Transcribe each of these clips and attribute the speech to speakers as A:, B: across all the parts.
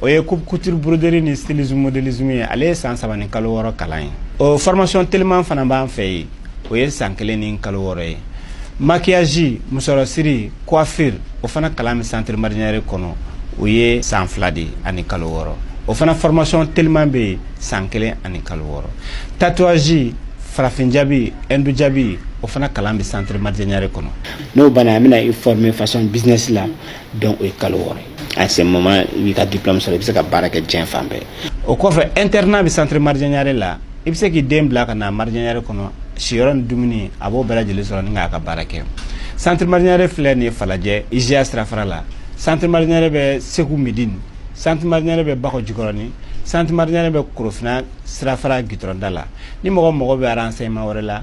A: o ye coupe couture broderie ni stylisme modélisme ye ale ye san saba ni kalo wɔɔrɔ kalan ye o formation teliman fana b'an fɛ yen o ye san kelen ni kalo wɔɔrɔ ye maquillage musɔrɔ siri coiffure o fana kalan bɛ centre Maridiè Niaré kɔnɔ o ye san fila de ani kalo wɔɔrɔ o fana formation teliman bɛ yen san kelen ani kalo wɔɔrɔ tatouage farafin jabi hindu jabi o fana kalan bɛ centre Maridiè Niaré kɔnɔ n'o banna an bɛna
B: i former façon business la donc o ye kalo wɔɔrɔ ye à ce moment i b'i ka diplôme sɔrɔ i bɛ se ka baara kɛ diɲɛ fan bɛɛ o kɔfɛ
A: internat bɛ centre Maridiè Niaré la i bɛ se k'i den bila ka na Maridiè Niaré kɔnɔ siyɔrɔ ni dumuni a b'o bɛɛ lajɛlen sɔrɔ ni k'a ka baara kɛ centre Maridiè Niaré filɛ nin ye falajɛ IJA sirafara la centre Maridiè Niaré bɛ segu midini centre Maridiè Niaré bɛ bakɔ jikɔrɔni centre Maridiè Niaré bɛ korofina sirafara gitɔrɔnda la ni mɔgɔ mago bɛ renseignement wɛrɛ la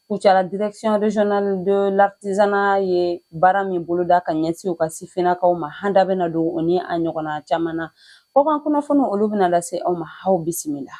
C: Kucala Direction Régionale de l'Artisanat ye baara min boloda ka ɲɛsin u ka sifinnakaw ma an da bɛna don o ni a ɲɔgɔnna caman na kɔkan kunnafoniw olu bɛna lase aw ma aw bisimila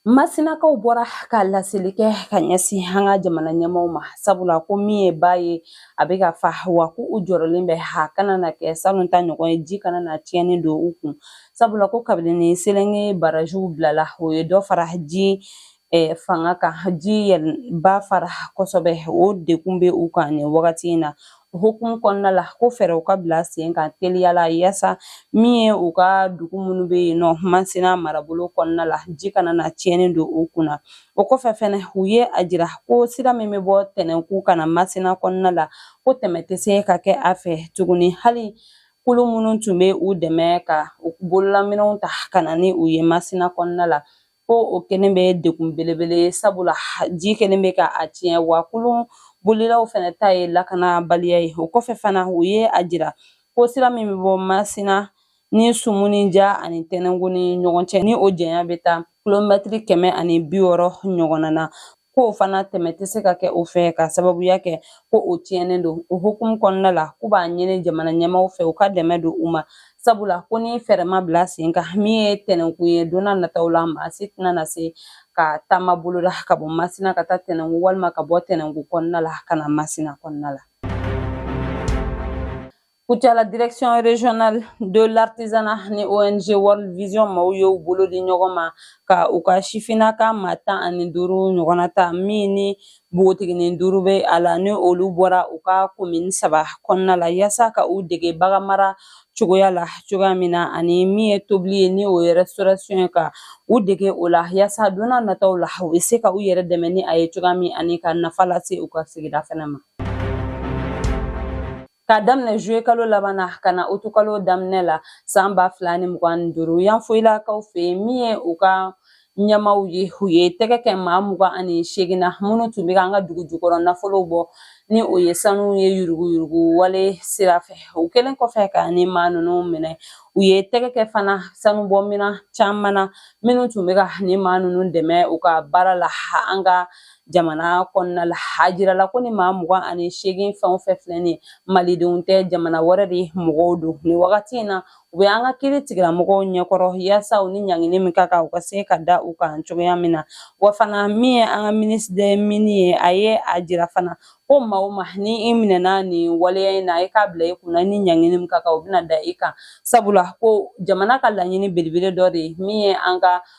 C: masinakaw bɔra ka laseli kɛ ka ɲɛsin an ka jamana ɲɛmaaw ma sabula ko min ye ba ye a bɛ ka fa wa ko u jɔrɔlen bɛ a kana na kɛ salon ta ɲɔgɔn ye ji kana na tiɲɛni don u kun sabula ko kabini selenge barajiw bilala o ye dɔ fara ji eh, fanga kan ji ba fara kosɛbɛ o degun bɛ u kan nin wagati in na hukumu kɔnɔna la ko fɛɛrɛw ka bila sen kan teliya la yaasa min ye u ka dugu minnu bɛ yen nɔ masina marabolo kɔnɔna la ji kana na tiɲɛni don u kunna o kɔfɛ fɛnɛ u ye a jira ko sira min bɛ bɔ tɛnɛnku ka na masina kɔnɔna la ko tɛmɛ tɛ se ka kɛ a fɛ tuguni hali kulun minnu tun bɛ u dɛmɛ ka u bololaminɛnw ta ka na ni u ye masina kɔnɔna la ko o kɛlen bɛ degun belebele ye sabula ji kɛlen bɛ ka a tiɲɛ wa kulun bolilaw fɛnɛ ta ye lakanabaliya ye o kɔfɛ fana u ye a jira ko sira min bɛ bɔ masina ni sumuni ja ani tɛnɛnku ni ɲɔgɔn cɛ ni o janya bɛ taa kilomɛtiri kɛmɛ ani bi wɔɔrɔ ɲɔgɔnna na ko o fana tɛmɛ tɛ se ka kɛ o fɛ k'a sababuya kɛ ko o tiɲɛnen don o hukumu kɔnɔna la k'u b'a ɲini jamana ɲɛmaaw fɛ u ka dɛmɛ don u ma sabula ko ni fɛɛrɛ ma bila sen kan min ye tɛnɛnkun ye don n'a nataw la maa si tɛna na se ka taama boloda ka bɔ masina ka taa tɛnɛnkun walima ka bɔ tɛnɛnkun kɔnɔna la ka na masina kɔnɔna la Kucala direction régionale de l'artisanat ni ONG World Vision maaw y'u bolo di ɲɔgɔn ma ka u ka sifinnaka maa tan ani duuru ɲɔgɔnna ta min ni npogotiginin duuru bɛ a la ni olu bɔra u ka komini saba kɔnɔna la yaasa ka u dege baganmara cogoya la cogoya min na ani min ye tobili ye ni o ye restauration ye ka u dege o la yaasa don n'a nataw la u bɛ se ka u yɛrɛ dɛmɛ ni a ye cogoya min ani ka nafa lase u ka sigida fana ma. Ka daminɛ juillet kalo laban na ka na août kalo daminɛ la san ba fila ni mugan ni duuru Yanfolilakaw fɛ yen min ye u ka ɲɛmaaw ye u ye tɛgɛ kɛ maa mugan ani seegin na minnu tun bɛ an ka dugu jukɔrɔ nafolow bɔ ni o ye sanu ye yuruguyurugu wale sira fɛ o kɛlen kɔfɛ ka nin maa ninnu minɛ u ye tɛgɛ kɛ fana sanubɔ minɛn caman na minnu tun bɛ ka nin maa ninnu dɛmɛ u ka baara la an ka jamana kɔnɔna la a jirala ko nin maa mugan ani seegin fɛn o fɛn filɛ nin ye malidenw tɛ jamana wɛrɛ de mɔgɔw don nin wagati in na u bɛ an ka kiritigɛlamɔgɔw ɲɛkɔrɔ yaasa u ni ɲangini min ka kan u ka se ka da u kan cogoya min na wa fana min ye an ka ministre des mines ye a ye a jira fana ko maa o maa ni i minɛna nin waleya in na i k'a bila i kunna ni ɲangini min ka kan o bɛna da i kan sabula ko jamana ka laɲini belebele dɔ de ye min ye an ka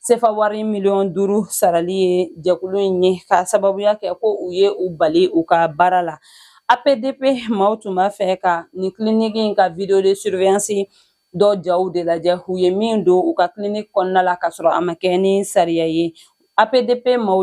C: sefa wari miliyɔn duuru sarali ye jɛkulu in ye k'a sababuya kɛ ko u ye u bali u ka baara la apdp maaw tun b'a fɛ ka nin kiliniki in ka vidéo de surveillance dɔ jaw de lajɛ u ye min don u ka kiliniki kɔnɔna la k'a sɔrɔ a ma kɛ ni sariya ye apdp maaw